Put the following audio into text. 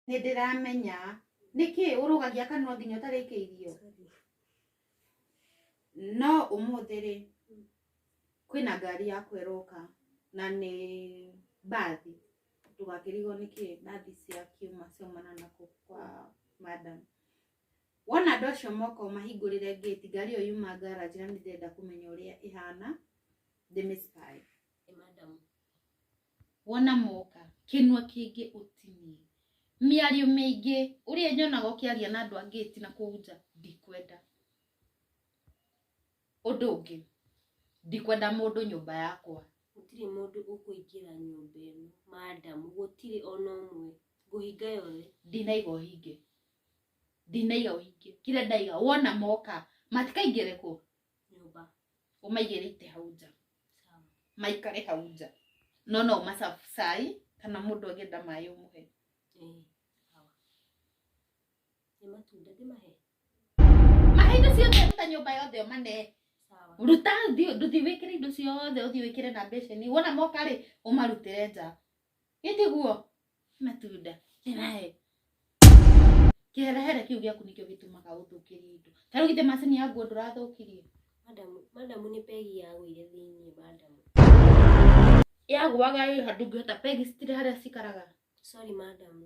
nĩndĩramenya nĩkĩ ũrũgagia kanua nginya ũtarĩkĩirio no ũmũthĩ rĩ kwĩna ngari yaku ĩroka na nĩ mbathi ndũgakĩrigwo nĩkĩ mbathi cia kiuma ciaumana na kũ kwa madam wona andũ acio moka ũmahingũrĩre ngĩti ngari ĩyo yuma ngaraji na nĩndĩrenda kũmenya ũrĩa ĩhana ndĩmĩspy Hey, madam. wona moka kĩnua kĩngĩ ũtinie mĩario mĩingĩ ũrĩa nyonaga ũkĩaria na andũ angĩ ti na kũu nja ndikwenda ũndũ ũngĩ ndikwenda mũndũ nyũmba yakwa gũtirĩ mũndũ ũkũingĩra nyũmba ĩno madamu gũtirĩ ona ũmwe ngũhinga yothe ndinaiga ũhinge ndinaiga ũhinge kĩrĩa ndaiga wona moka matikaingĩre kũ nyũmba ũmaigĩre ite hau nja sawa maikare hau nja no no macabu cai kana mũndũ angĩenda maĩ ũmũhe eh sawa nĩ matunda ndĩmahe mahe indo ciothe ruta nyũmba yothe ũmane sawa ruta thi- nduthi wĩkĩre indo ciothe ũthiĩ wĩkĩre na mbeceni wona moka rĩ ũmarutĩre nja gĩtiguo matunda kĩrahe kĩherehere kĩu gĩaku nĩkĩo gĩtũmaga ũthũkĩrie indo ta rĩu githĩ macini ya nguo ndũrathũkirie Madamu, madamu nĩ pegi ya wĩire thĩinĩ, madamu. yagũaga ĩ handũ ngĩhota pegi citirĩ harĩa cikaraga Sorry, madamu.